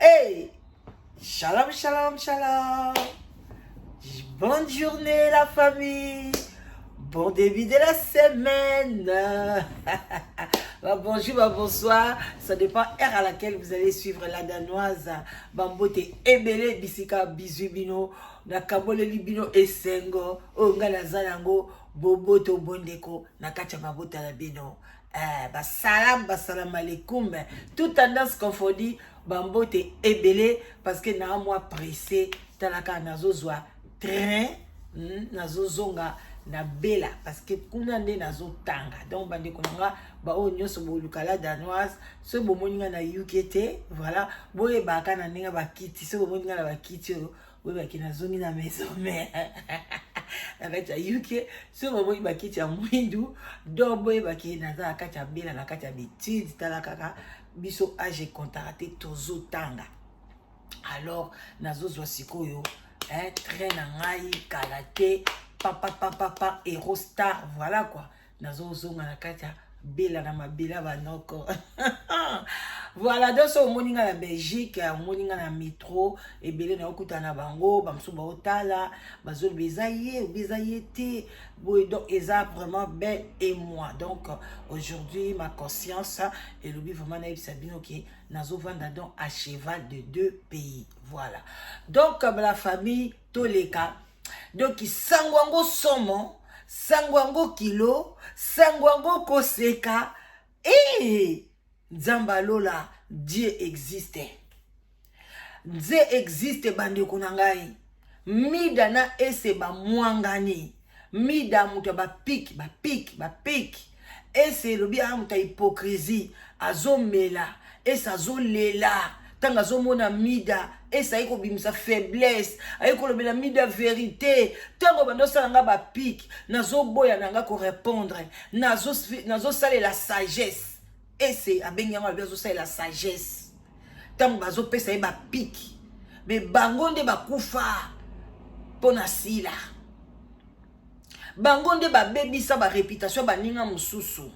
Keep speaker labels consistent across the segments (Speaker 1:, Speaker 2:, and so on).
Speaker 1: Hey, shalom, shalom, shalom. Bonne journée la famille. Bon début de la semaine. Bah, bonjour, bah, bonsoir. Ça dépend heure à laquelle vous allez suivre la danoise. Bambote ebele bisika bizubino. Nakabole libino esengo. Onga na zanango. Boboto bondeko. Nakacha mabota la bino. Eh, basalam basalam alaikum tout tendance confondue bambote ebele parce que naa mwa presse talaka nazozwa train hmm, nazozonga na bela parce que kuna nde nazotanga donc bandeko na nga baoyo nyonso bolukala danoise soki bomoni nga na uk te voilà boyebaka na ndenge bakiti soki bomoni nga na bakiti oyo oyebaki nazongi na maison mère na kati ya uk soki bamoni bakiti ya mwindu donc boyebaki naza na kati ya bela na kati ya betide tala kaka biso age contara te tozotanga alors nazozwa sikoyo eh, train na ngai kala te papapapapa erostar voilà quoi nazozonga na kati ya bela na mabele ya banoko voilà donc soki omoni ngai na belgique omoni ngai na metro ebele na okutana na bango bamosusu baotala bazoloba eza ye obi eza ye te boye donc eza vraiment belle et moi donc aujourd'hui ma conscience elobi vraiment nayebisa bino ke nazovanda donc à cheval de deux pays voilà donc la famille toleka donc sango yango somo sango yango kilo sango yango koseka ee nzambe alola dieu existe nze existe bandeko na ngai mida na ese bamwangani mida moto ya bapiki bapiki bapiki ese elobi aa moto ya hypocrisie azomela ese azolela ntango azomona mida ese aye kobimisa faiblesse aye kolobela mida verite ntango banda osala nga bapike nazoboya na nga korepondre nazosalela nazo sagesse ese abengi yango alobi azosalela sagesse ntango bazopesa ye bapike me bango nde bakufa mpo na sila bango nde babebisa bareputation ya baninga mosusu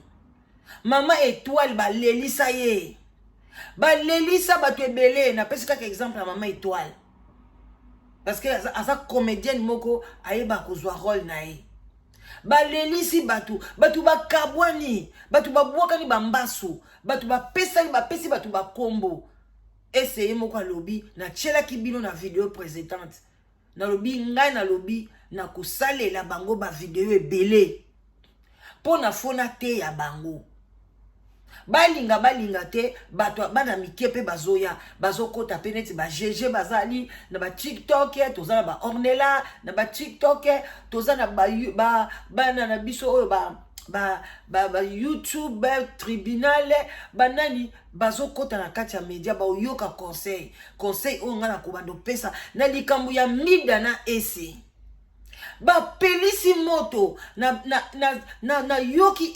Speaker 1: mama etoile balelisa ye balelisa bato ebele napesi kaka exemple ya mama etoile parce que aza, aza comédienne moko ayeba kozwa role na ye balelisi bato bato bakabwani bato babwakani bambasu bato bapesani bapesi bato bakombo eseye moko alobi natyelaki bino na video presentante nalobi ngai nalobi na kosalela bango bavideo ebele mpo na fo nateya bango balinga balinga te bato bana mike mpe bazoya bazokota mpe neti bagege bazali na batiktok toza na baornela na batiktok toza na bana na biso oyo ba ba, ba, ba youtube tribunal banani bazokota na kati ya media baoyoka conseil conseil oyo ngai nakobanda opesa na likambo ya mida na ese bapelisi moto nayoki na, na, na, na, na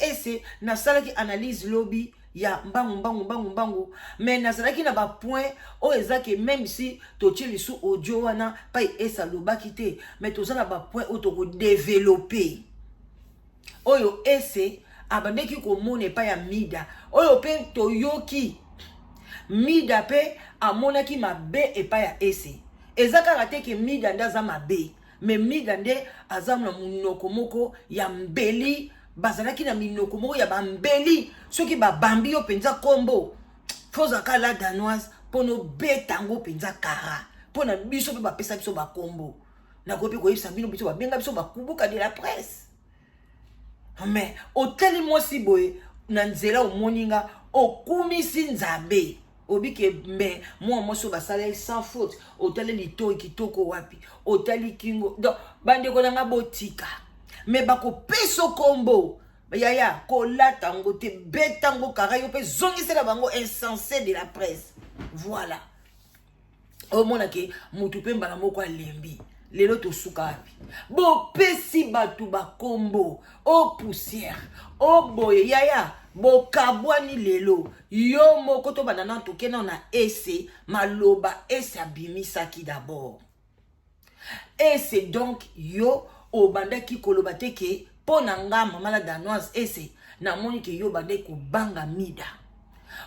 Speaker 1: ese nasalaki analyse lobi ya mbangu mbangu mbangu mbangu me nazalaki na bapoint oyo eza ke meme si totie lisu audio wana pai ese alobaki te me toza na bapoint oyo tokodevelope oyo ese abandaki komona epai ya mida oyo mpe toyoki mida mpe amonaki mabe epai ya ese eza kaka te ke mida nde aza mabe me mida nde aza na monoko moko ya mbeli bazalaki na minoko moko ya bambeli soki babambi yo mpenza nkombo fozaka la danoise mpo nobeta yango mpenza kara mpo na biso mpe bapesa biso bakombo nakoki mpe koyebisa bino biso babenga biso bakubuka de la presse mais otali mwasi boye na nzela omoni nga okumisi nzambe obike me mwa mwasi oyo basala ye sans faute otali litoi kitoko wapi otali kingo donc bandeko na nga botika me bakopesa kombo yaya kolata yango te beta yango kaka yo mpe zongisela bango insense de la presse voilà omona ke mutu mpe mbala moko alembi lelo tosuka wapi bopesi bato bakombo o poussière o boye yaya bokabwani lelo yo moko tobanda na toke nao na ese maloba ese abimisaki dabord et c'est donc yo obandaki koloba te ke mpo na nga mama la danoise ese namoni ke yo obandaki kobanga mida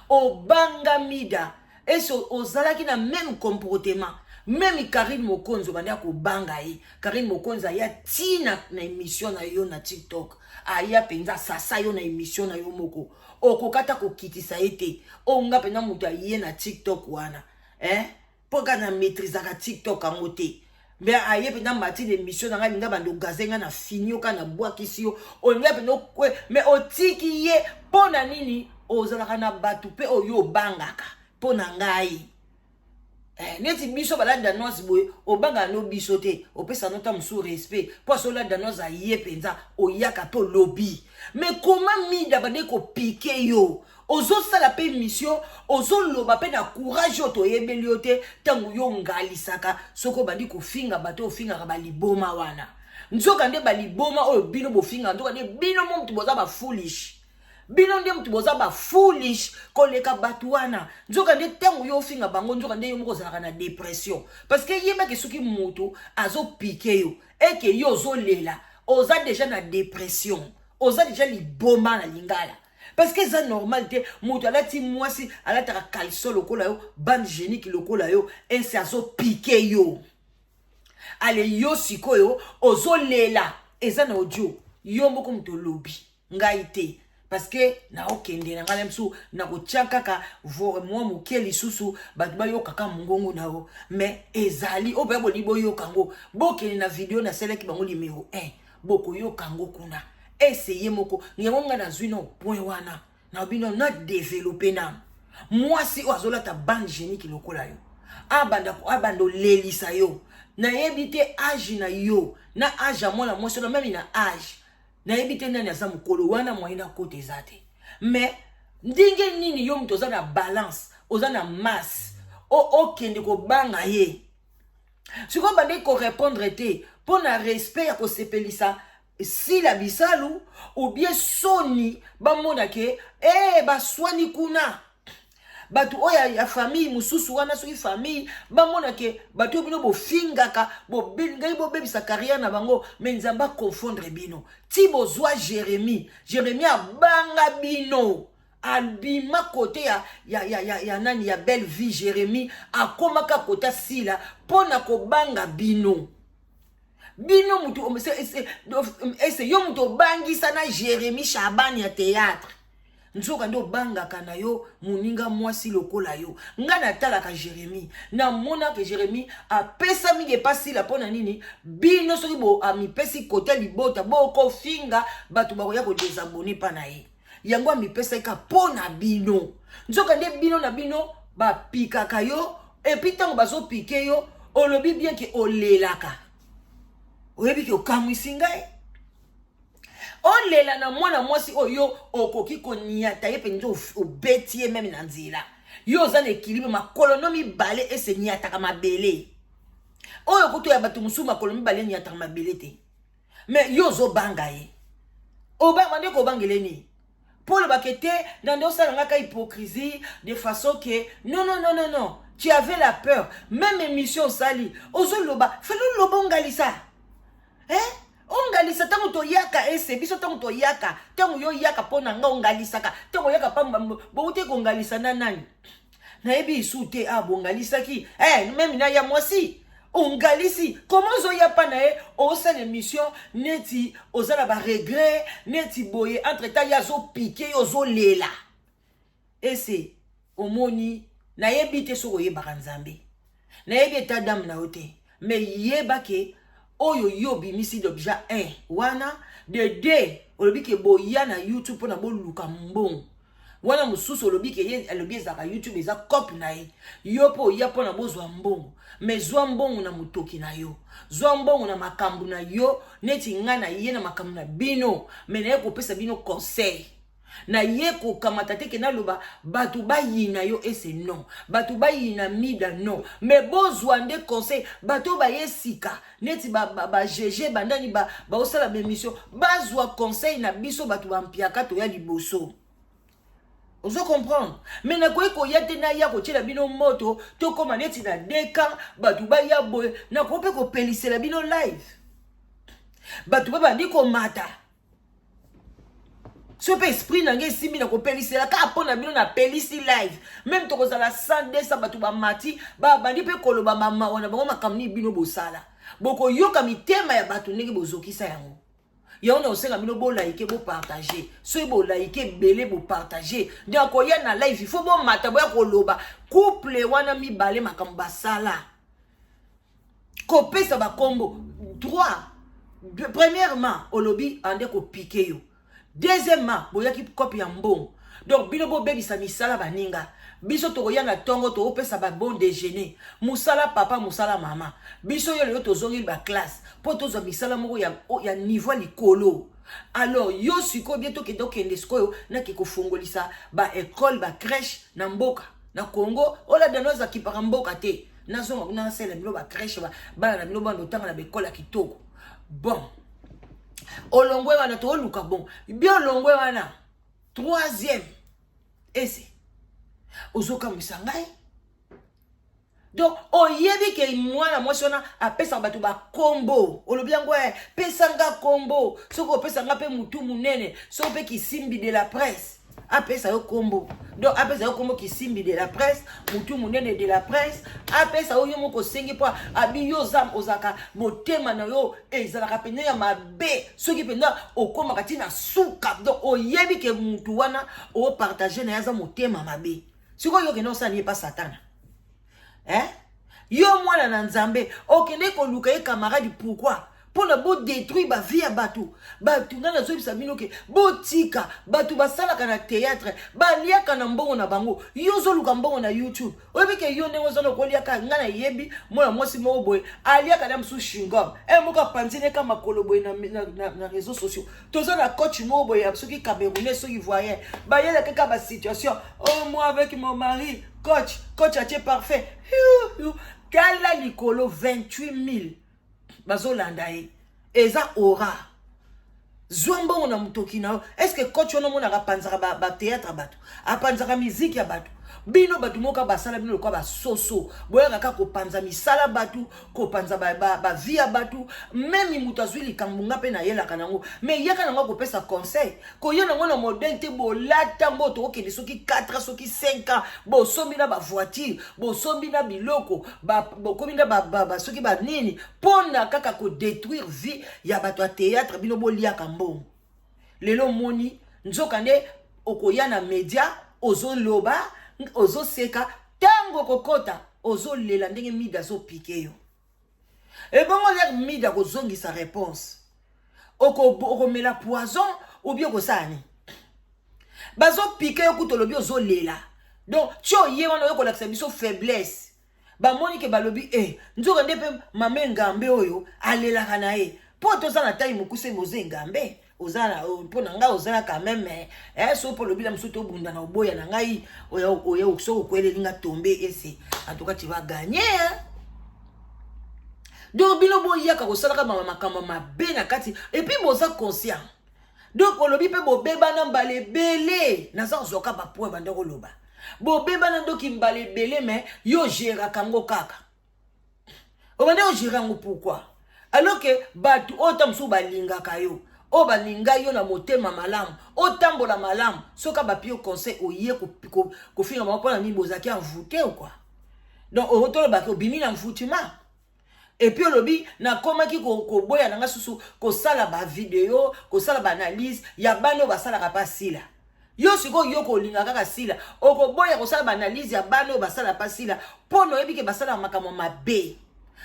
Speaker 1: obanga mida ese ozalaki na meme comportement meme karine mokonzi obandaki kobanga ye karine mokonzi aya ti na, na émission na yo na tiktok aya mpenza sasa yo na émission na yo moko okokata kokitisa ye te oyo nga mpenza moto aye na tiktok wana eh? mpo kaka na maîtrisaka tiktok yango te mbe aye mpenza mati na émission na ngai linga banda ogaze ngai na fini yo kaka nabwakisi yo olinga mpenza okwe me otiki ye mpo na nini ozalaka na bato mpe oyo obangaka mpo na ngai Eh, neti biso baladi danoise boye obanga no biso te opesa no ntango mosusu respect mpo aso oladi danoise aye mpenza oyaka mpe olobi me koma mida bande kopike yo ozosala mpe mission ozoloba mpe na courage oyo toyebeli yo te ntango yo ngalisaka soki obandi kofinga bato ofingaka baliboma wana nzoka nde baliboma oyo bino bofingaka nzoka nde bino mo moto boza bafoolish bino nde moto boza bafoolish koleka bato wana nzoka nde ntango yo ofinga bango nzoka nde yo moko ozalaka na depression parce que yebaki soki moto azopike yo eke yo ozolela oza deja na depression oza deja liboma na lingala parce que eza normal te moto alati mwasi alataka caleçon lokola yo bande génique lokola yo ense azopike yo ale yo sikoyo ozolela eza na audio yo moko moto olobi ngai te parce que naokende na ngai na biso nakotya kaka mwa moke lisusu bato bayokaka mongongo na yo mais ezali oyo mpenza bolingi boyoka yango bokende na video nasalaki bango limero 1 bokoyoka yango kuna ese ye moko yango ngai nazwi no point wana na bino na develope nano mwasi oyo azolata bande geniki lokola yo abanda abanda olelisa yo nayebi te age na yo na age ya mwana mwasi na meme na age nayebi te nani aza mokolo wana moyen na kota eza te mais ndenge nini yo moto oza na balance oza na masse okende kobanga ye sikoyo bandeki korepondre te mpo na respect ya kosepelisa sila bisalu obie soni bamona ke e eh, hey, baswani kuna bato oyo ya famille mosusu wana soki famille bamona ke bato oyo bino bofingaka ngai bobebisa carrière na bango me nzambe aconfondre bino ti bozwa jérémie jérémie abanga bino abima kote ya, ya, ya, ya, ya nani ya belle vie jérémie akomaka kota sila mpo na kobanga bino bino motu ese yo motu obangisa na jérémie shabani ya théâtre nzoka nde obangaka na yo moninga mwasi lokola yo ngai natalaka jérémi namonaka jérémi apesa mingi epasila mpo na nini bino soki amipesi kota libota bokofinga bato bakoya kodesabone mpa na ye yango amipesaki kaka mpo na bino nzoka nde bino na bino bapikaka yo epuis ntango bazopike yo olobi bien ke olelaka oyebi ke okamwisi ngai olela na mwana mwasi oyo okoki koniata ye mpenza obeti ye meme na nzela yo oza na ekilibre makolo no mibale ese niataka mabele oyo kutu ya bato mosusu makolo mibale niataka mabele te mais yo ozobanga ye obanga nde kobangele nini mpo olobaka ete na nde osala ngaka hypocrisie de façon ke non non non non non tu avais la peur même émission osali ozoloba fali oloba ongalisa eh? ongalisa ntango toyaka ese biso ntango toyaka ntango yo oyaka mpo na nga ongalisaka ntango oyaka pamba bouti kongalisa na nani nayebi isu te ah bongalisaki eh, meme na ya mwasi ongalisi koma ozoya mpa na ye osala émission neti oza na baregret neti boye entre temps ye azopike yo ozolela ese omoni nayebi te soki oyebaka nzambe nayebi eta dame na yo te me yeba ke oyo yo obimisi dobja 1 wana de 2 olobi ke boya na youtube mpona boluka mbongo wana mosusu olobi ke ye alobi ezalaka youtube eza cope na ye yo mpo oya mpona bozwa mbongo me zwa mbongo na motoki na yo zwa mbongo na makambo na yo neti ngai na ye na makambo na bino me naye kopesa bino conseil naye kokamata te ke naloba bato bayina yo ese non bato bayina mida non me bozwa nde conseil bato oyo baye sika neti bagege bandani baosala baemission bazwa conseil na biso bato bampiaka toya liboso ozo comprendre me nakoki koya te naya kotyela bino moto tokóma neti na deka bato baya boye nakoki mpe kopelisela bino live bato babandi komata soki mpe esprit na ngai esimbi na kopelisela kaka mpo na bino napelisi live meme tokozala 100 bato bamati babandi mpe koloba mamawa na bango makambo nini bino bosala bokoyoka mitema ya bato ndenge bozokisa yango yango nakosenga bino bolaike bopartage soki bolaike ebele bopartage nde akoya na live ifo bomata boya koloba couple wana mibale makambo basala kopesa bakombo droit premièrement olobi ande kopike yo deuxièmement boyaki kope ya mbongo donc bino bobebisa misala baninga biso tokoya na ntongo tokopesa babon déjeuner mosala papa mosala mama biso yo lelo tozongeli baklasse mpo tozwa misala moko ya, ya niveau ya likolo alors yo sikoyo bie tokende okende sikoyo nake kofungolisa baekole bacrèche na mboka na congo olabda no azakipaka mboka te nazonga kuna nasala bino ba crèche ba bana na bino bana otanga na bekola kitoko bon olongwe wana tooluka bon bi olongwe wana troisième ese ozokamwisa ngai donc oyebi ke mwana mwasi wana apesaka bato bakombo olobi yango e eh, pesanga kombo soki opesanga mpe motu monene soki mpe kisimbi de la presse apesa yo kombo donc apesa yo kombo kisimbi de la presse mutu munene de la presse apesa yo yo moko osengi mpo abi yo oza ozalaka motema na yo ezalaka mpenza ya mabe soki mpenza okomaka ti na suka donc oyebi ke mutu wana opartage na ye aza motema mabe sikoyo okende osala ye mpa satana eh? yo mwana na nzambe okende koluka ye camarade pourquoi mpo na bodétruire bavie ya bato bato ngai nazoyebisa bino ke botika bato basalaka na théâtre baliaka na mbongo na bango yo ozoluka mbongo na youtube oyebi ke yo ndenge ozana okoliaka ngai nayebi mwana mwasi moko boye aliaka na mosusu shingom e eh, moko apanzi neka makolo boye na, na, na, na réseau sociaux toza na coach moko boye ya soki camerounais soki ivoirien bayela kaka ba situation oh moi avec mon mari coach coach atie parfait tala likolo 28000 bazolanda ye eza ora zwa mbongo na motoki na yo estce coach wana omonaka apanzaka batheatre ba bato apanzaka miziki ya bato bino bato moko basala bino lokola basoso boyaka kaka kopanza misala bato kopanza bavi ba, ba ya bato meme moto azwi likambo nga mpe nayelaka nango me yaka nango akopesa conseil koya nango na modele te bolata ngo tokokende soki 4 soki 5 ans bosombi na bavoiture bosombi na biloko bokomi na ba, ba, ba, soki banini mpo na kaka kodetruire vie ya bato ya théâtre bino boliaka mbongo lelo omoni nzoka nde okoya na media ozoloba ozoseka ntango okokota ozolela ndenge mida azopike yo ebongo lere mida akozongisa réponse okomela oko poison obi okosala nini bazopike yo kutu olobi ozolela donc tio ye wana oyo kolakisa biso faiblesse bamoni ke balobi e eh, nzoka nde mpe mama engambe oyo alelaka na ye mpo toza na tai mokuse moza engambe oza na mpo na ngai oza na quand meme eh, so mpo olobi na mosusu tobunda na oboya na ngai oya soki okweleli nga tombe ese antuka ti baganye donc bino boyaka kosalaka mama makambo mabe na kati epuis boza conscient donc olobi mpe bobebana mbala ebele naza kozwa ka bapoint banda koloba bobebana ndoki mbala ebele me yo geraka yango kaka obanda ogere yango pourkui alors ke bato oyo ta mosusu balingaka yo oyo balinga yo na motema malamu otambola malamu soki bapio conseil oye kofinga bango mpona nini bozalaki envoute ou kua donc otolobaki obimi na envoutement epuis olobi nakomaki koboya na nga susu kosala bavideo kosala baanalyse ya bana oyo basalaka mpa sila yo sikoyo yo kolinga kaka sila okoboya kosala baanalyse ya bana oyo basala mpa sila mpo na oyebi ke basalaka makambo mabe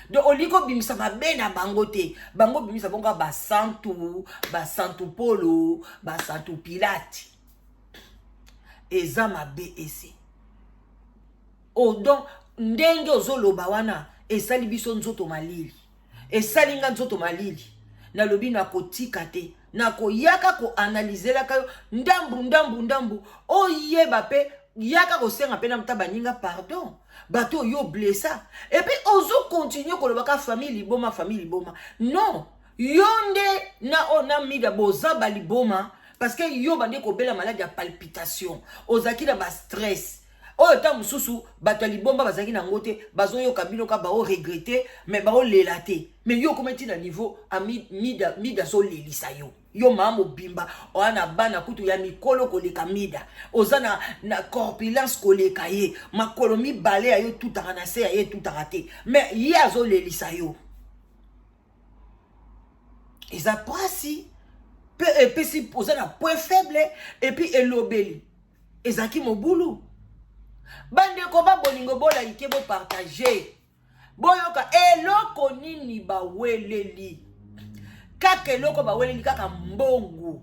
Speaker 1: donc olingi kobimisa mabe na bango te bango bimisa bongo basantu basantu polo basantu pilate eza mabe ese Oh donc ndenge ozoloba wana esali biso nzoto malili, esali nga nzoto malili. Nalobi nakotika te, nakoyaka koanalizelaka yo ndambu ndambu ndambu, oyeba mpe yaka kosenga mpe namuta baninga pardon bato oyo blessa epui ozokontinue kolobaka famille liboma famille liboma non yo nde na oyo oh, na mida boza baliboma parce que yo bande kobela maladi ya palpitation ozalaki na bastress oyo ntango mosusu bato ya libomba bazalaki na yango te bazoyoka bino ka baoregrete me baolela te me yo okoma ntina niveau mida, mida azolelisa yo yo maa mobimba oya na bana kutu ya mikolo koleka mida oza na, na corpulence koleka ye makolo mibale ya yo etutaka na se ya ye etutaka te me ye azolelisa yo eza mpasi mpe epesi oza na point faible epuis elobeli ezalaki mobulu bandeko ba bolingo bolaike bopartage boyoka eloko nini baweleli kaka eloko baweleli kaka mbongo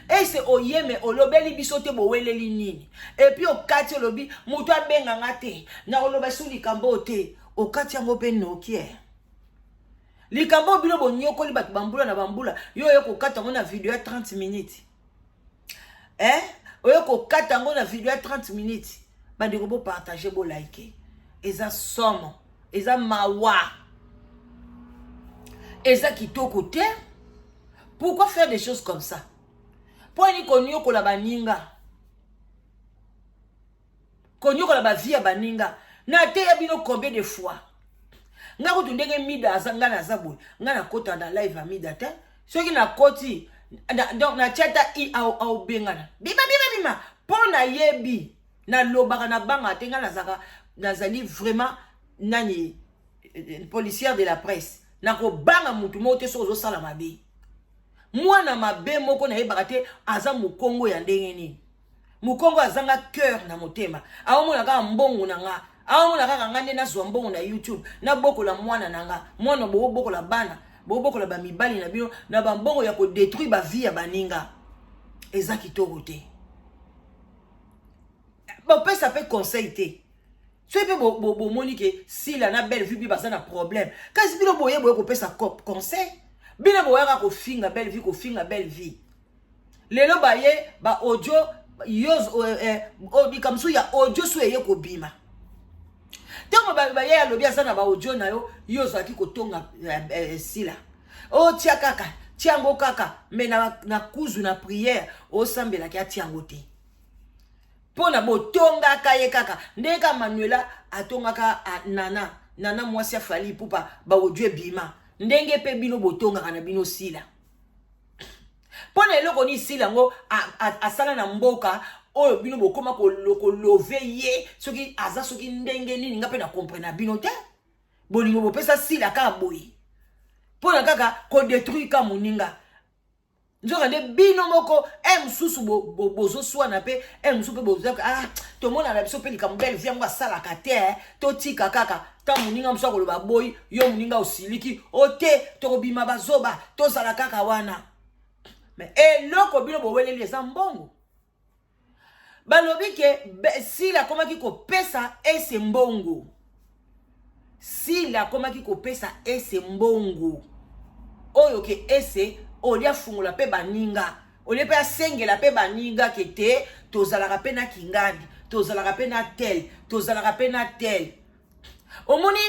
Speaker 1: ese oyeme olobeli biso te boweleli nini epuis okati olobi moto abenga nga te na oloba su likambo oyo te okati yango mpe nokie eh. likambo oyo bino bonyokoli bato bambula na bambula yo oye kokata yango na video ya 30 minutes eh oye kokata yango na video ya 30 minutes bandeko bopartage bolike eza somo eza mawa eza kitoko te pourquoi faire des choses comme ça mpo ani koniokola baninga konyokola ba vie ya baninga nateya bino combien de fois nga kutu ndenge mida aza nga naza boye nga nakota na live ya mida te soki nakoti donc natya ata i aobengana bima bima bima mpo nayebi nalobaka na banga te nga nazaka nazali vraiment nani eh, policière de la presse nakobanga motu moko te soki ozosala mabe mwana mabe moko nayebaka te aza mokongo ya ndenge nini mokongo azanga cœur na motema aomona kaka mbongo na nga aomona kaka nga nde nazwa mbongo na youtube nabokola mwana na nga mwana boobokola bana bobokola bamibali na bino na bambongo ya kodetruire bavie ya baninga eza kitoko te bopesa mpe conseil te soki mpe bomoni ke sila na belle vue mpe baza na problème kasi bino boye boye kopesa conseil bino boyaka kofinga belle vie kofinga belle vie lelo baye ba audio yo eh, eh, oh, likambo so ya audio so eye kobima ntango baye alobi aza na baaudio na yo yo ozalaki kotonga eh, sila otia oh, kaka tia yango kaka me na, na kuzu na priere osambelaki atia yango te mpo na botongaka ye kaka ndenge kaka manuela atongaka nana nana mwasi afali pupa baodio ebima ndenge mpe bino botongaka na bino sila mpo na eloko nini sila yango asala na mboka oyo bino bokoma kolove ye soki aza soki ndenge nini nga mpe na comprena bino te bolingo bopesa sila kaka boye mpo na kaka kodetruire ka moninga nzoka nde bino moko e mosusu bozoswana mpe e mosusu mpe boza ah tomonana biso mpe likambo belle vie yango asalaka te eh, totika kaka ka moninga mosu akoloba aboyi yo moninga osiliki o te tokobima bazoba tozala kaka wana me eloko bino boweleli eza mbongo balobi ke sila akomaki kopesa ese mbongo sila akomaki kopesa ese mbongo oyo ke ese olie afungola mpe baninga olie mpe asengela mpe baninga ke te tozalaka mpe na kingandi tozalaka mpe na tel tozalaka mpe na tel omoni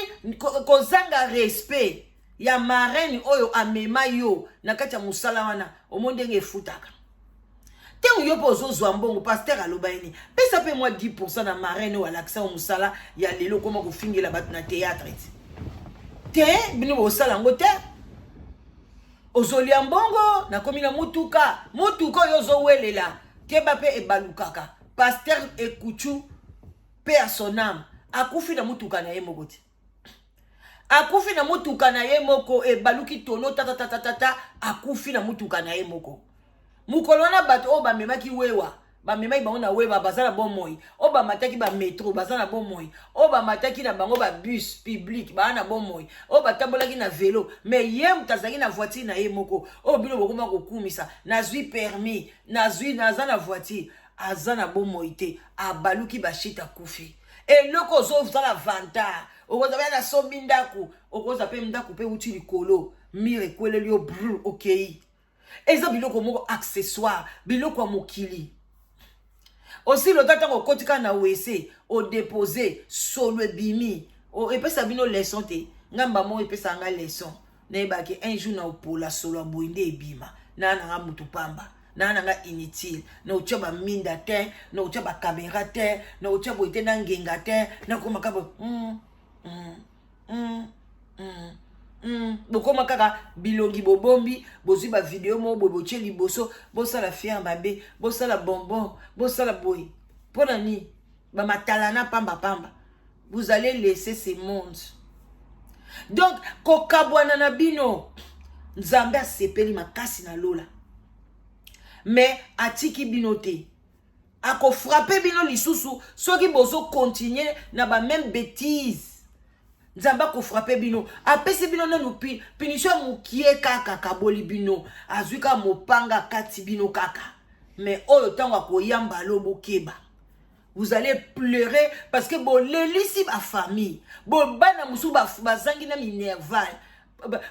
Speaker 1: kozanga ko respect ya marraine oyo amema yo na kati ya mosala wana omoni ndenge efutaka ntango yo mpe ozozwa mbongo paster aloba ye nini pesa mpe mwa 10 na marraine oyo alakisa yo mosala ya lelo okoma kofingela bato na théâtre ti te bino bosala yango te ozolia mbongo nakomi na motuka motuka oyo ozowelela keba mpe ebalukaka paster ekuchu paix à son âme akufi na motuka na ye moko te akufi na motuka na ye moko ebaluki tono tatatatatata akufi na motuka na ye moko mokolo wana bato oyo bamemaki wewa bamemaki bango na wewa baza na bomoi oyo bamataki bametro baza na bomoi oyo bamataki na bango babus publike baa na bomoi oyo batambolaki na velo me ye moto azalaki na voitire na ye moko oyo bino bokoma kokumisa nazwi permis nazwi naza na voitire aza na bomoi te abaluki bashit akufi eloko ozozala vantar okozala na sombi ndako okoza mpe ndako mpe uti likolo mire ekweleli yo brr okei eza biloko moko accessoire biloko ya mokili osi lota ntango okoti kaka na wese odepose solo ebimi epesa bino leson te ngai mbamoko epesaka ngai leson nayeba ke un jour na opola solo ya boye nde ebima naa na nga motu pamba naa na nga inutile na otya baminda te na otya bakamera te na otya boye te na ngenga te nakoma kaka boye mm, mm, mm, mm. Mm, bokoma kaka bilongi bobombi bozwi bavideo moko boye botye liboso bosala fiere mabe bosala bonbon bosala boye mpo na nini ba matalana pamba pamba vous allez laisser ce monde donc kokabwana na bino nzambe asepeli makasi na lola mais atiki bino te akofrape bino lisusu soki bozokontinue na bameme betise nzambe akofrape bino apesi bino nanu pinisio ya mokie kaka akaboli bino azwi kaka mopanga akati bino kaka me oyo ntango akoyamba alo bokeba vous allez pleurer parce que bolelisi bafamille bobana mosusu bazangi na minerval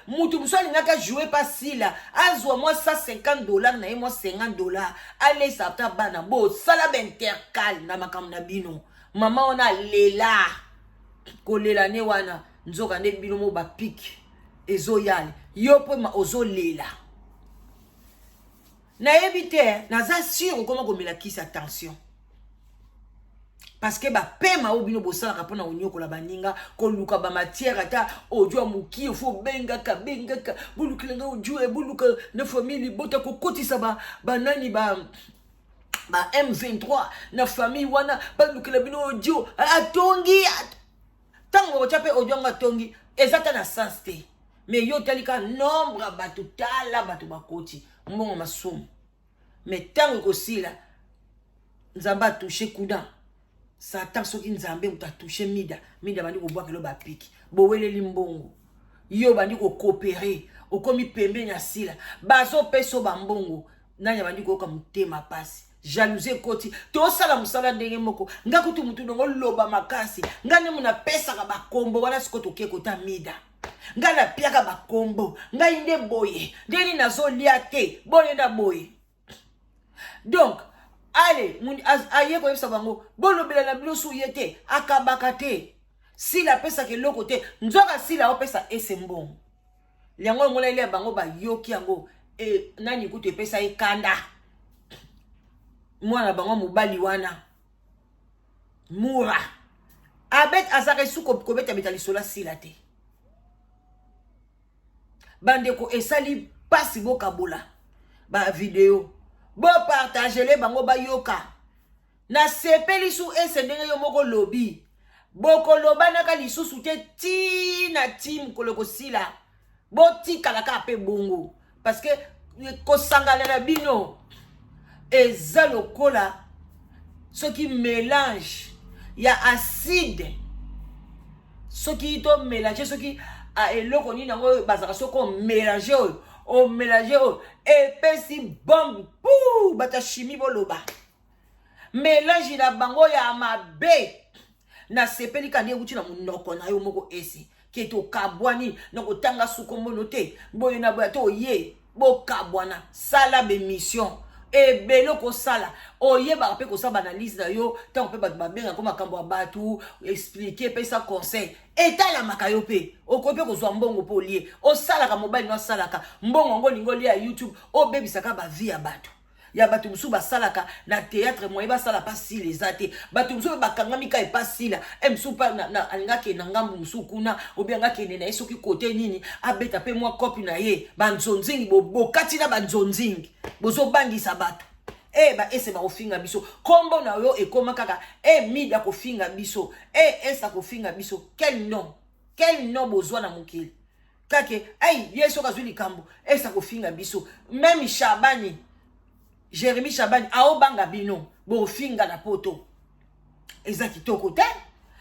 Speaker 1: moto mosusu alingaka joue mpe asila azwa mwa 150 dollar na ye mwa 50 dollar alesa ata bana bosala baintercale na makambo na bino mama wana alela kolela ne wana nzoka nde bino mo bapike ezoyale yo mpe ozolela nayebi te naza sur okoma komela kisa tension parceke bapema oyo bino bosalaka mpona konyokola baninga koluka bamatière ata audio ya mokie fo obengaka bengaka bolukela nga audio eh, boluka na famille libota kokotisa banani ba, ba ba m23 na famille wana balukela bino audio atongi at ntango bakotya mpe audio yango atongi eza ta na sens te mais yo otali kaka nombre ya bato tala bato bakoti mbongo masumu mais ntango ekosila nzambe atouche kuda satan soki nzambe moto atouche mida mida bandi kobwaka elo bapiki boweleli mbongo yo obandi kokopere okomi pembeni ya sila bazopesa yo bambongo nani abandi koyoka motema mpasi jalousie ekoti tosala mosala ndenge moko nga kutu motu ndongo loba makasi nga nde mona apesaka bakombo wana siko tokie kota mida nga napiaka bakombo ngai nde boye nde nini nazolia te boye na boye donc ale aye koyebisa bango bolobela na bino su ye te akabaka te sila apesaka eloko te nzoka sila opesa ese mbongo yango omonani ya bango bayoki yango e, nani kutu epesa ye kanda mwana bango mobali wana mura abet azaka esu kobetabeta lisolo asila te bandeko esali mpasi bokabola bavideo bopartagele bango bayoka nasepeli su ese ndenge yo moko lobi bokolobanaka lisusu te ti na ti mokolo ekosila botikala kaka mpe bongo parce que kosangana na bino eza lokola soki mélange ya acide soki to mélange soki ah, eloko nini yango oyo bazalaka soki omélange oyo omélange oyo epesi bombe pou bata chimie boloba melange na bango ya mabe nasepeli kanda ewuti na monoko na yo moko esi ke tokabwani na kotanga sukombono te boye na boya to oye bokabwana sala bemission ebele okosala oyebaka mpe kosala baanalyse na yo ntango mpe bato babenga ko makambo ya bato explike epesa conseil etalamaka yo mpe okoki mpe kozwa mbongo mpo olie osalaka mobali no asalaka mbongo yango olingi olia ya youtube obebisaka bavie ya bato ya bato mosusu basalaka na théâtre moye basala mpa sila eza te bato mosusu oyo bakangami ka epa sila e mosusu mpa alinga akende na ngambo mosusu kuna obianga akende na ye soki kote nini abeta mpe mwa kopi na ye banzonzingi bokati na banzonzingi bozobangisa bato e eh, baese bakofinga biso nkombo na yo ekoma kaka e eh, mida kofinga biso e eh, esa kofinga biso quel nom quel nom bozwa na mokili kake ai ye soki azwi likambo esa kofinga biso meme shabani jeremi shabani aobanga bino bofinga na poto eza kitoko te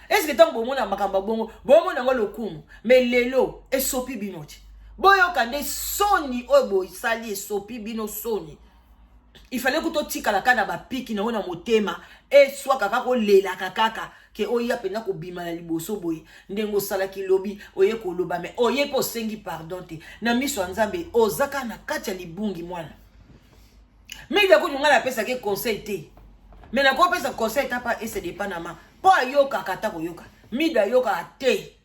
Speaker 1: eske ntango bomona makambo ya bongo bomona yango lokumu me lelo esopi bino te boyoka nde soni oyo bosali esopi bino soni il fallait kuto tikala kaka na bapiki na yo na motema eswaka kaka olelaka kaka ke oya mpenza kobima na liboso boye ndenge osalaki lobi oye koloba me oye mpe osengi pardon te na miso ya nzambe oza kaka na kati ya libungi mwana mingi nakutu ngai napesaki conseil te me nakopesa conseil ta pa ese depanama mpo ayokaka ata koyoka mida ayokaka te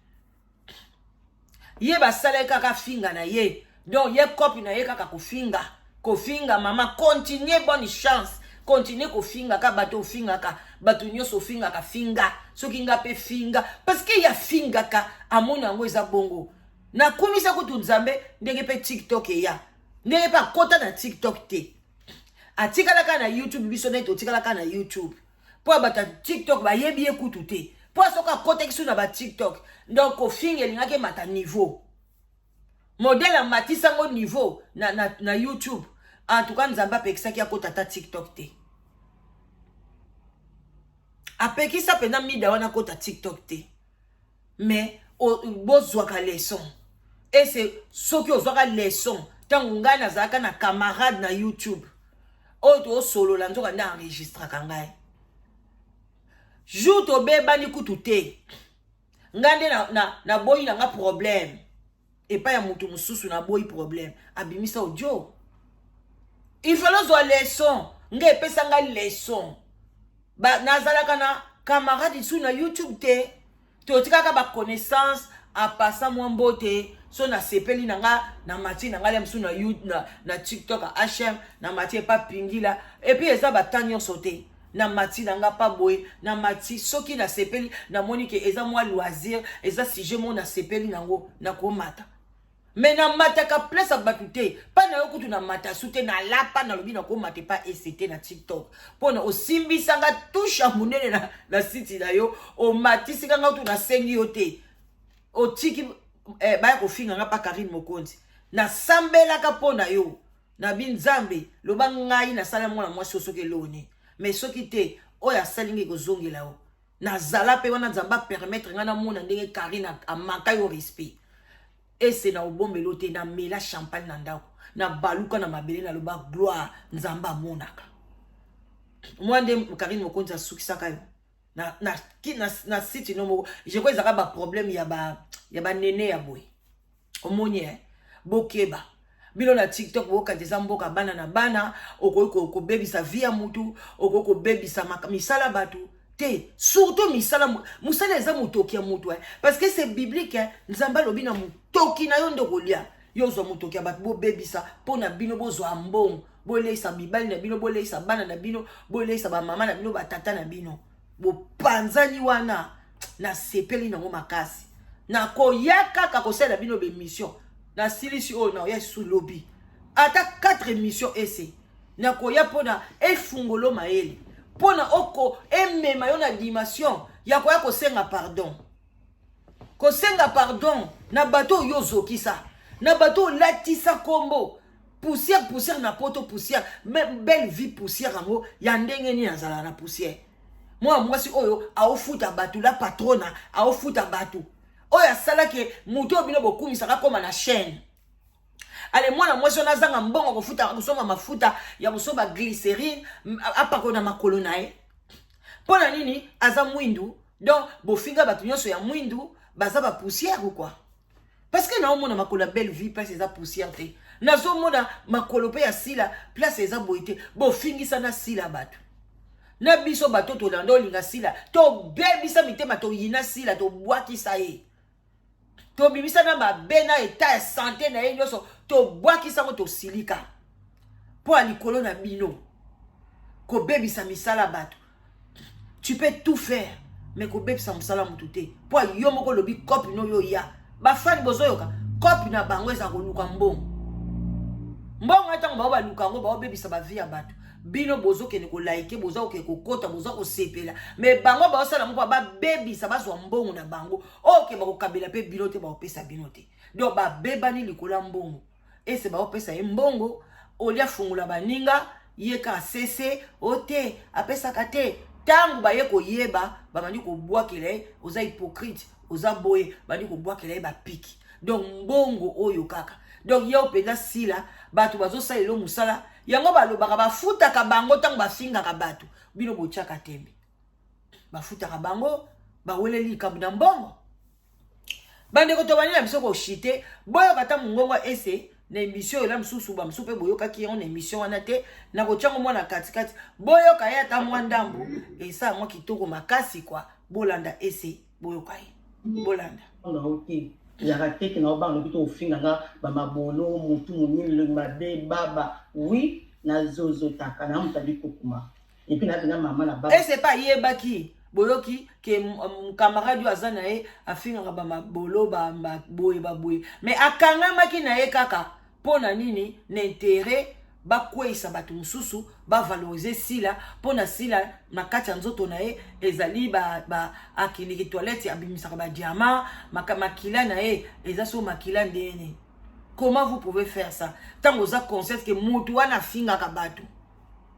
Speaker 1: ye basala ye kaka finga na ye donc ye kopi na ye kaka kofinga kofinga mama continue bonne chance continue kofingaka bato ofingaka bato nyonso ofingaka finga soki nga mpe finga parceke ye afingaka amoni yango eza bongo nakumisa kutu nzambe ndenge mpe tiktok eya ndenge mpe akota na tiktok te atikalaka na youtube biso nde totikalaka na youtube mpo ya bato ya tiktok bayebi ye kutu te mpo soki akotaki su na batiktok donc kofinga elingaki emata niveau modele amatisa yango niveau na, na, na youtube en tout cas nzambe apekisaki akota ata tiktok te apekisa mpenza mida wana akota tiktok te mais bozwaka leson ese soki ozwaka leson ntango ngai nazalaka na camarade na youtube oyo tosolola nzoka nde enregistraka ngai jour tobebani kutu te ngai nde naboyi na, na, na ngai problème epai ya moto mosusu na boyi problème abimisa audio il fallait ozwa leson nga epesa nga leson nazalaka na camarade isu na youtube te totikaka baconnaissance apasa mwa mbote so nasepeli na nga na mati na ngai mosusu na, na, na tiktok hm na mati epa pingila epuis eza bata nyonso te na mati na nga pa boye na mati soki nasepeli namoni ke eza mwa loisir eza sujet moko nasepeli nango nakomata me namataka place ya bato te mpa na yo kutu namata su te nalapa nalobi nakomata epa ect na tiktok mpo na osimbisanga tushe ya monene na, na siti na yo omatisika nga kutu nasengi yo te otiki eh, baya kofinga nga mpa karine mokonzi nasambelaka mpo na yo nabi nzambe loba ngai nasala mwana mwasi oyo soki eloni me soki te oyo asali ngai kozongela yo nazala mpe wana nzambe apermettre ngai namona ndenge karine amaka yo respect ese na obombelo te namela champagne na ndako nabaluka na mabele naloba gloire nzambe amonaka mwa nde karine mokonzi asukisaka yo na, na, na, na site no moko je crois ezalaka baproblème ya banene ya boye omoni eh? bokeba bino na tiktok bokati eza mboka bana na bana okoki kobebisa vi ya mutu okoki kobebisa misala bato te surtout misala mosala eza motoki ya moto eh? parce que c'est biblique eh? nzambe alobi na motoki na yo nde okolia yo ozwa motoki ya bato bobebisa mpo na bino bozwa mbongo boleisa mibali na bino boleisa bana na bino boleisa bamama na bino batata na bino bopanzani wana nasepeli nango makasi nakoya kaka kosalela bino bemission nasilisi oyo naoya lisusu lobi ata 4 émission ese nakoya mpona efungolo mayele mpona oko emema yo na dimension ya koya kosenga pardon kosenga pardon na bato oyo yo ozokisa na bato oyo olatisa nkombo poussière poussière na poto poussière même belle vie poussière yango ya ndenge nini azala na poussière mwana mwasi oyo aofuta bato la patrona aofuta bato oyo asalaki moto oyo bino bokumisaka akoma na chaîne ale mwana mwasi wana azanga mbongo kofuta kosomba mafuta ya kosomba glycerine apakolo na makolo na ye mpo na nini aza mwindu donc bofinga bato nyonso ya mwindu baza bapoussière ou quoi parce que naomona makolo ya belle vie place eza poussière te nazomona makolo mpe ya sila place eza boye te bofingisa na sila bato na biso bato tolanda olinga sila tobebisa mitema toyina sila tobwakisa ye tobimisa na mabe na etat ya sante na ye nyonso tobwakisa yango tosilika mpo ya likolo na bino kobebisa misala ya bato tu peux tout faire mais kobebisa mosala ya motu te mpo yo moko olobi cope no yo ya bafani bozoyoka cope na bango eza koluka mbongo mbongo ya ntango bango baluka yango baobebisa bavi ya bato bino bozokende kolaike boza kokende kokota boza kosepela me bango baosala moko babebisa bazwa mbongo na bango oke bakokabela mpe bino te bakopesa bino te donc babebani likolo ya mbongo ese bakopesa ye mbongo oli afungola baninga ye ka sese o te apesaka te ntango baye koyeba babandi kobwakela ye oza hypocrite oza boye bandi kobwakela ye bapiki donc mbongo oyo kaka donc yo mpenza sila bato bazosala elo mosala yango balobaka bafutaka bango ntango bafingaka bato bino botyaka tembe bafutaka bango baweleli likambo na mbongo bandeko tobandi na biso koshite boyoka ata mongongo ese na emission oyo na mosusu bamosusu mpe boyokaki yango na emission wana te na kotya yango mwana katikati boyoka ye ata mwa ndambo esa yango kitoko makasi kwa bolanda ese boyoka ye bolanda
Speaker 2: yaka teke na obanga lobi to ofinga nga bamabolo motu monini mabe baba wi nazozotaka na moto ali kokuma Et puis na bina maman na ba. Et c'est pas yebaki
Speaker 1: boyoki ke camarade oyo aza na ye afingaka bamabolo baboye baboye me akangamaki na ye kaka mpo na nini na intere bakweisa bato mosusu bavalorize sila mpo na sila na kati ya nzoto na ye ezali akiliki toilette abimisaka badiama makila na ye eza so makila ndeni comment vous pouvez faire ça ntango oza conscience ke motu wana afingaka bato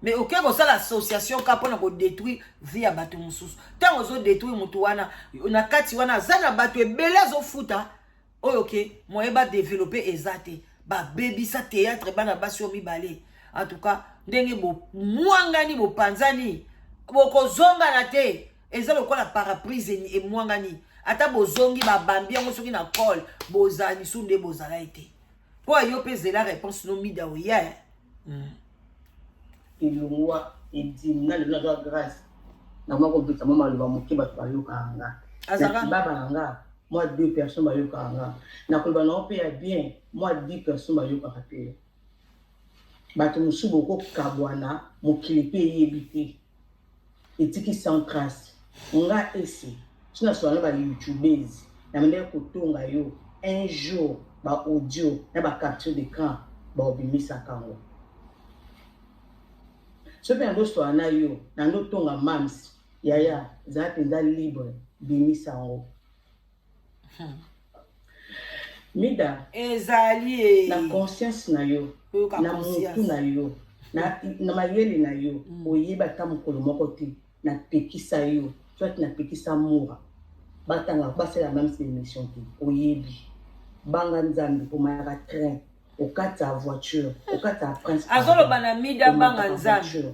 Speaker 1: mais oke kosala association ka mpona kodétruire vie ya bato mosusu ntango ozodétruire motu wana na kati wana aza na bato ebele azofuta oyo ke moye badeveloppe eza te babebisa théâtre bana basi oyo mibale en tout cas ndenge bomwangani bopanzani bokozongana te eza lokola paraprise emwangani ata bozongi babambi yango soki na cole bozala lisusu nde bozala ete Po yo pe zela réponse no mida oya. Hmm.
Speaker 2: Ilungwa edim na lelo na grâce. Na mwa kobeta mwa maloba moke bato bayokaka nga. Azaka. Baba na nga mwa deux personnes bayokaka nga. Na koloba na yo pe ya bien mwa dix personnes bayokaka pe yo. Bato mosusu bokokabwana mokili pe eyebi te. etiki sans trace nga ese ti na solola na ba youtubese na bandaki kotonga yo un jour ba audio na ba capture d'écran baobimisaka yango soki mpe nazosolola na yo na ndotonga mams yaya zala mpenza libre bimisa yango mida ezali
Speaker 1: eh. na conscience
Speaker 2: na yo na motu na yo na, na mayele na yo mm. oyeba ata mokolo moko te napekisa yo soit napekisa mura batanga basala meme se émission te oyebi banga nzambe omayaka train okata voiture okata prince azoloba na mida
Speaker 1: banga nzambe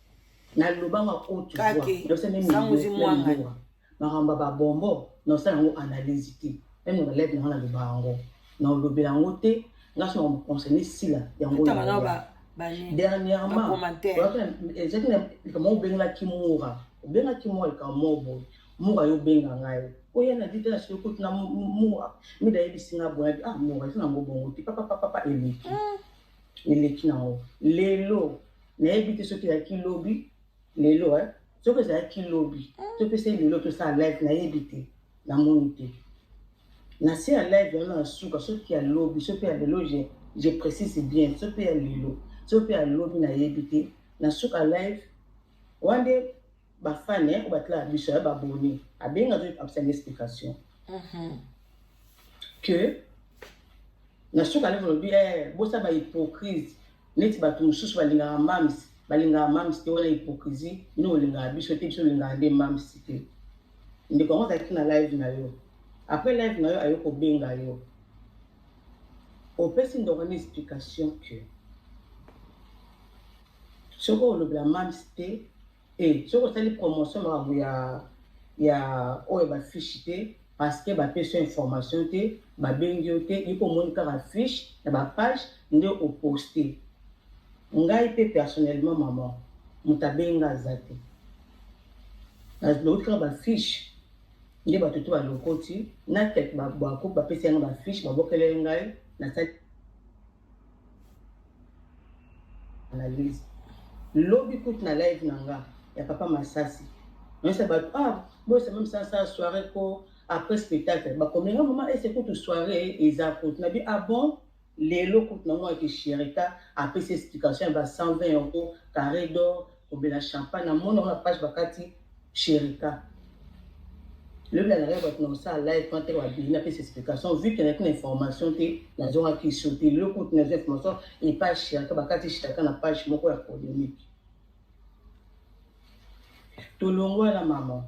Speaker 2: nalobanga haute voix nayosa meme nivoa
Speaker 1: makambo ya
Speaker 2: babombo naosala yango analyse te meme na baleve nanga naloba yango naolobela yango te nga so makambo concerne sila yango dernièrement ezalaki na likambo moko obengelaki mura obengaki mura likambo moko boye mura yo obenga ngai oya na vita na soki okoti na mura mida yebisi nga boye ah mura eza nango bongo te papapapapa eleki hmm. eleki na yango lelo nayebi te soki ezalaki lobi lelo eh? soki ezalaki lobi topesa ye lelo tosala live nayebi te namoni te na se ya live yango na suka soki ya lobi so mpe ya lelo je précise bien so mpe ya lelo so mpe ya lobi nayebi te na suka live wana nde ba fan eh ko batla biso ya ba boni abenga to apesa une explication mhm. que na suka nde tolobi eh bosa ba hypocrite neti bato mosusu balingaka mams balingaka mams te wana hypocrisie bino olingaka biso te biso olingaka nde mams te ndeko yango azalaki na live na yo après live na yo ayo kobenga yo opesi ndoko na explication que soki olobela mams te e soki osali promotion makambo ya ya oyo bafiche te parce que bapesi yo information te babengi yo te yiko omoni kaka fiche na bapage nde oposte ngai mpe personnellement mama moto abenga aza te balokoti kaka bafiche nde bato to balokoti na tete bapesi yango bafiche babokeleli ngai nasali analyse lobi kutu na live na nga ya papa masasi nayesa bato ah boyesa meme sasa soirée ko après spectacle bakomela mama ese kutu soirée eza kutu na bi ah bon lelo kutu na mwa kishirika apesi explication ya ba 120 euro carré d'or kobela champagne na mona na page bakati Cherika. Lobi na ngai bato na kosala live mpo ateka babeli na pesa explication vu ke naki na information te nazongaki so te loko te nazwa information epa shiraka bakati shiraka na page moko ya polémique tolongwa na mama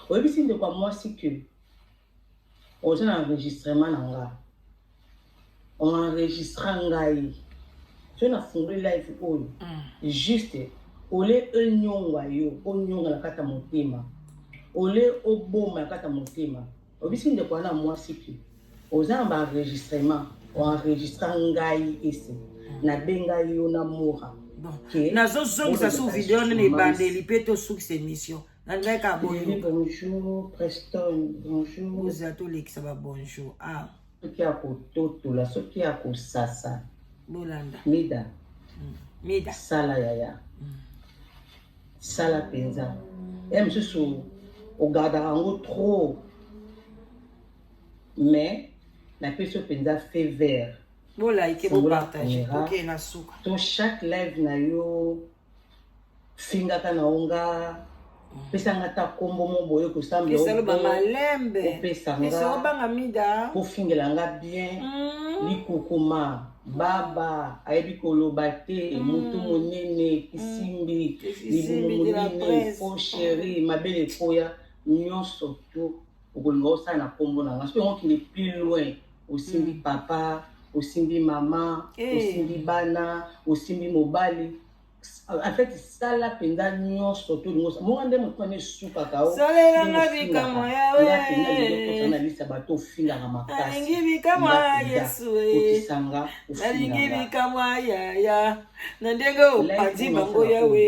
Speaker 2: oyebisi ndeko ya mwasi ke oza na enregistrement na nga oenregistra ngai so nafungoli live oyo mm. juste ole enyongwa yo onyonga na kati ya motema ole oboma na kati ya motema obisi ndeko wana mwasi te oza na baenregistrement oenregistra ngai ese mm. nabenga yo na mora nazozongisa
Speaker 1: su video nene ebandeli mpe tosukisa émission André ka bonjour. Bonjour
Speaker 2: Preston, bonjour. Boza to lekisa ba
Speaker 1: bonjour. Ah. Soki ya
Speaker 2: kototola, soki ya kosasa. Bolanda.
Speaker 1: Mida.
Speaker 2: Mm. Mida.
Speaker 1: Sala yaya.
Speaker 2: Mm. Sala penza. Ya mosusu ogardaka yango trop. Mais napesi yo mpenza feu vert. Bo like, bo
Speaker 1: partage. Ok, na suka. To chaque live
Speaker 2: na yo fingaka na yo nga mm. pesa nga ata nkombo mo boye kosambelaesaloba malembe opesa
Speaker 1: ngaobanga mida kofingela nga
Speaker 2: bien mm. likukuma baba ayebi koloba te mm. motu monene kisimbi libumu monene po sheri mabele ekoya nyonso to Okolinga osala na kombo na nga soki yango kende plus loin osimbi hmm. papa osimbi mama eh. osimbi bana osimbi mobali en fait sala mpenza nyonso to lingo monga nde moto wana esukaka osalelanga bikamwa
Speaker 1: yaweanalisa bato
Speaker 2: ofingaka makasialingi bikamwa
Speaker 1: yesu okisanga
Speaker 2: nalingi
Speaker 1: bikamwa yaya na ndenge opanzi bango yawe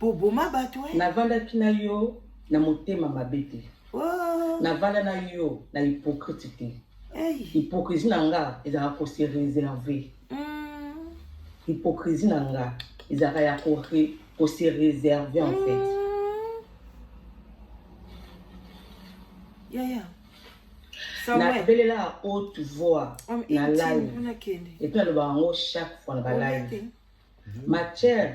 Speaker 1: Boboma bato eh? Navandaki na yo
Speaker 2: na motema mabe te. Oh. Navanda na yo na hypocrite te. Hey. Hypocrisie na nga ezalaka ko se réserver. Mm. Hypocrisie na nga ezalaka ya ko ko se réserver en fait. Mm. Yeah, yeah. nabelela haute voix na live epuis nalobaka yango chaque fois na balive matière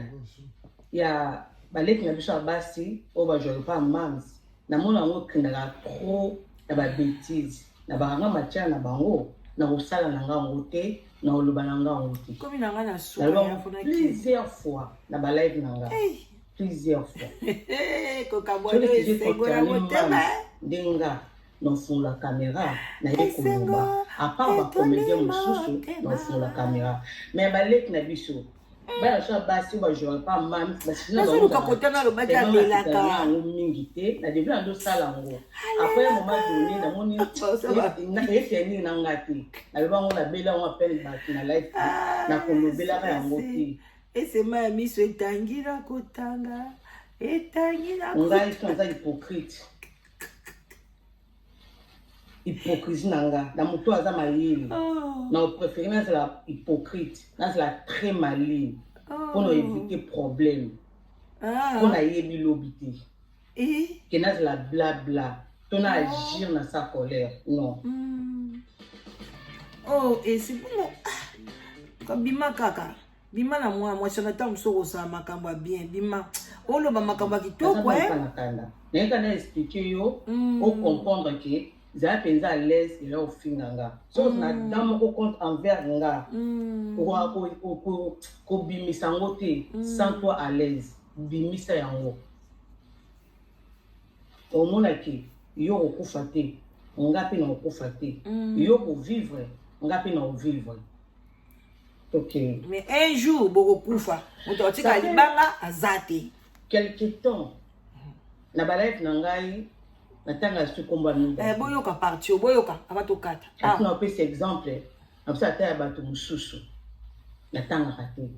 Speaker 2: ya baleki na biso ya basi oyo bajwaka mpa mams namona yango ekendaka trop na babetise na bakanga matière na bango na kosala na nga yango te na koloba na nga yango te plusieurs fois na balive na nga plusieurs fois ndenge nga nafungola kamera naye koloba apart bacomédien mosusu nafungola kamera me baleki na biso bana biso ya basi oyo bajouaka mpa mami basinaoluka kota nalobaki alelaka yango mingi te na debi na ndosala yango apres moma done namoni nayesi ya nini na nga te naloba yango nabela yango apele bato na life ah, nakolobelaka yango te esema ya miso
Speaker 1: etangi na kotanga etangi na ngai so aza
Speaker 2: hypocrite hypocrisie na nga na moto aza mayele oh. na opréféré nazala hypocrite nazala très maline mpo oh. na évite problème mpo ah. nayebi lobi te eh? ke nazala blabla to na oh. agir na sa colère non hmm.
Speaker 1: oh esi bongo ah, kobima kaka bima na mwana mwasi wana ntango mosusu okosala makambo ya bien bima oloba makambo ya kitoko eh? nayeka
Speaker 2: na explike yo mm. ocomprendre ke zala mpenza à l'aise ela ofinga nga soki mm. na dan moko compte envers nga mm. kobimisa yango te sans toi à l'aise bimisa yango omonaki yo okokufa te nga mpe na okokufa te yo kovivre nga mpe na ovivre Okay. Mais un
Speaker 1: jour bokokufa moto atika libanga aza te. Quelque temps
Speaker 2: na balive na ngai natanga lisusu
Speaker 1: nkombo ya
Speaker 2: mibale. Eh, boyoka
Speaker 1: parti oyo
Speaker 2: boyoka aba tokata. Ah. Atuna opesa exemple na biso ata ya bato mosusu natangaka te.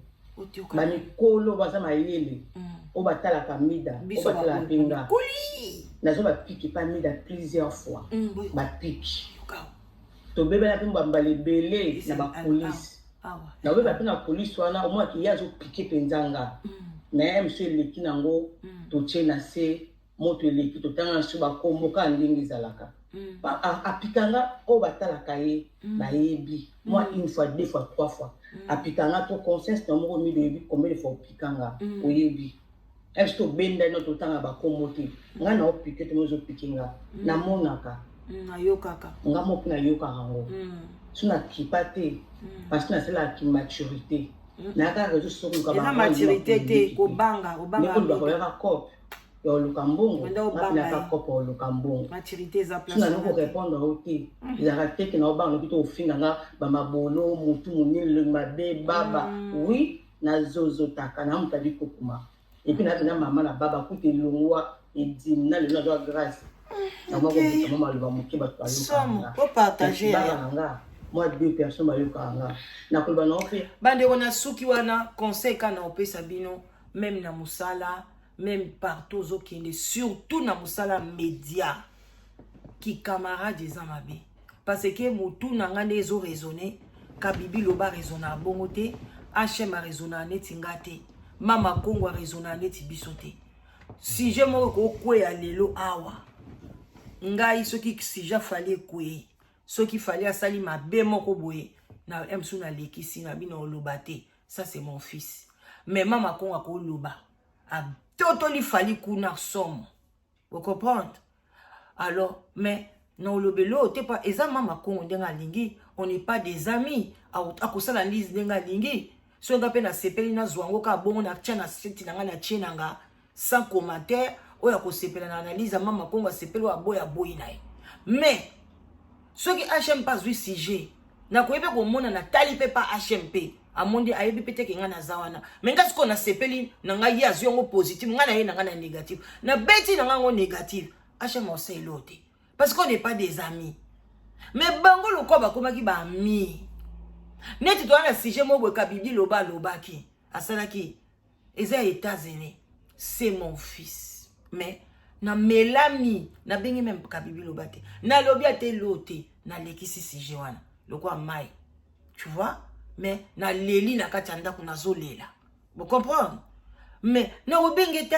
Speaker 1: bamikolo baza
Speaker 2: mayele mm. oyo batalaka mida oyo batalaka mpenga nazo bapiki pa mida plusieurs fois mm, bapiki tobebela mpe mbambala ebele na bapolisi nabeba mpe na polisi wana omonaki ye azopike mpenza nga mm. na ye mosu eleki nango mm. totye na se moto eleki totanga na so bakombo kaka ndenge ezalaka mm. apika nga oyo batalaka ye bayebi mwa une fois deux fois trois fois apika nga to conscience na moko miloyebi combien de fois opika nga oyebi esi tobenda ino totanga bakombo te ngai na opike te mozo pike nga mm. namonaka mm, nayokaka
Speaker 1: nga moki nayokaka
Speaker 2: yango mm. so nakipa te parce que nasalaka kimaturité nayaka rezo sokoyokaeza maturité te
Speaker 1: kobanga obangaoyaka
Speaker 2: cope ya oluka mbongo napinaka cope ya oluka mbongo so nani
Speaker 1: korépondre yo
Speaker 2: te ezalaka teke na obanga noki to ofinga nga bamabolo motu monene mabe baba oui na zozo taka na moto ali kokuma epuis na bina mama na baba kutu elongwa edimi na lelo nazwa grâce namakobisama maloba moke bato bayokaaaa
Speaker 1: na nga mwa
Speaker 2: deux personnes bayokaka nga nakoloba nao mpe bandeko na suki
Speaker 1: wana conseil ka na opesa bino meme na mosala meme partout ozokende surtout na mosala média kikamarade eza mabe Parce que mutu na nga nde ezo raisonner Kabibi loba raisonna bongo te HM a raisonna neti nga te Mama Kongo a raisonna neti biso te Sujet moko ko kweya lelo awa ngai soki sujet fali ekweyi soki fali asali mabe moko boye na msu nalekisi na bino oloba te ça c'est mon fils mais Mama Kongo akoloba atotoli fali kuna somo Vous comprenez? Alors, mais na olobeli oyo te pa eza mama kongo ndenge alingi on n'est pas des amis akosala lise ndenge alingi soki nga mpe nasepeli nazwa yango kaka bongo natya na site na ngai natie na nga sans commentaire oyo akosepela na analyse ya mama kongo asepeli oyo aboya boyi na ye mais soki hm mpe azwi sujet nakoki mpe komona natali mpe pa hm mpe amondi ayebi mpe teke ngai naza wana me ngai sikoyo nasepeli na ngai ye azwi yango positive ngai na ye na ngai na négative nabeti na ngai yango négative hm osaelo te parce qu'on n'est pas des amis me bango lokola bakomaki baami neti toza na sujet moko boye kabidi loba alobaki asalaki eza ya etats unis c'est mon fils mais na melami nabengi meme kabibi loba te nalobi ata eloo te nalekisi sujet wana lokola mai tu vois mais naleli na kati ya ndako nazolela bocomprendre mais nakobenge te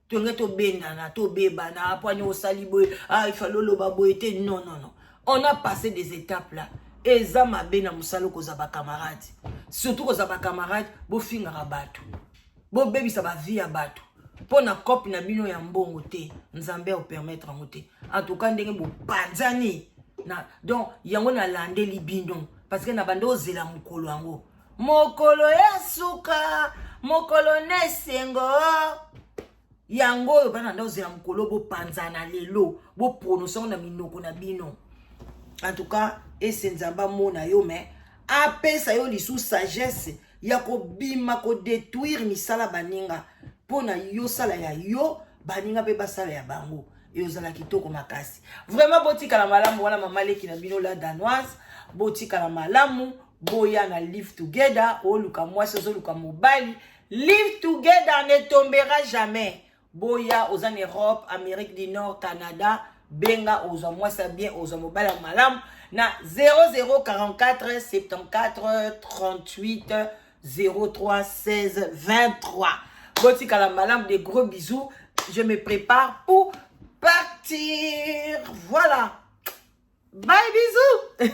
Speaker 1: tolingi tobendana tobebana pwani osali boye ah, ifali oloba boye te non non non on a passé des étapes là eza mabe na mosala okozwa bacamarade surtout kozwa bacamarade bofingaka bato bobebisa bavie ya bato mpo na cope na bino ya mbongo te nzambe aopermettre yango te en tout cas ndenge bopanzani na donc yango nalandeli bino parce que na banda ozela mokolo yango mokolo ya suka mokolo na esengo yango oyo bana nda ozela mokolo bopanzana lelo boprononse yango na minoko na bino en tout cas ese nzambe amona yo me apesa yo lisusu sagesse ya kobima kodetruire misala baninga mpo na yo sala ya yo baninga mpe basala ya bango eyo ozala kitoko makasi vraiment botikala malamu wana mama leki na bino la danoise botikala malamu boya na live together oluka mwasi ozoluka mobali live together ne tombera jamais boya oza na europe amérique du nord canada benga ozwa mwasi ya bien ozwa mobali ya malamu na 0044 74 38 03 16 23 botikala malamu de gros bisous je me prépare pour partir voilà bye bisous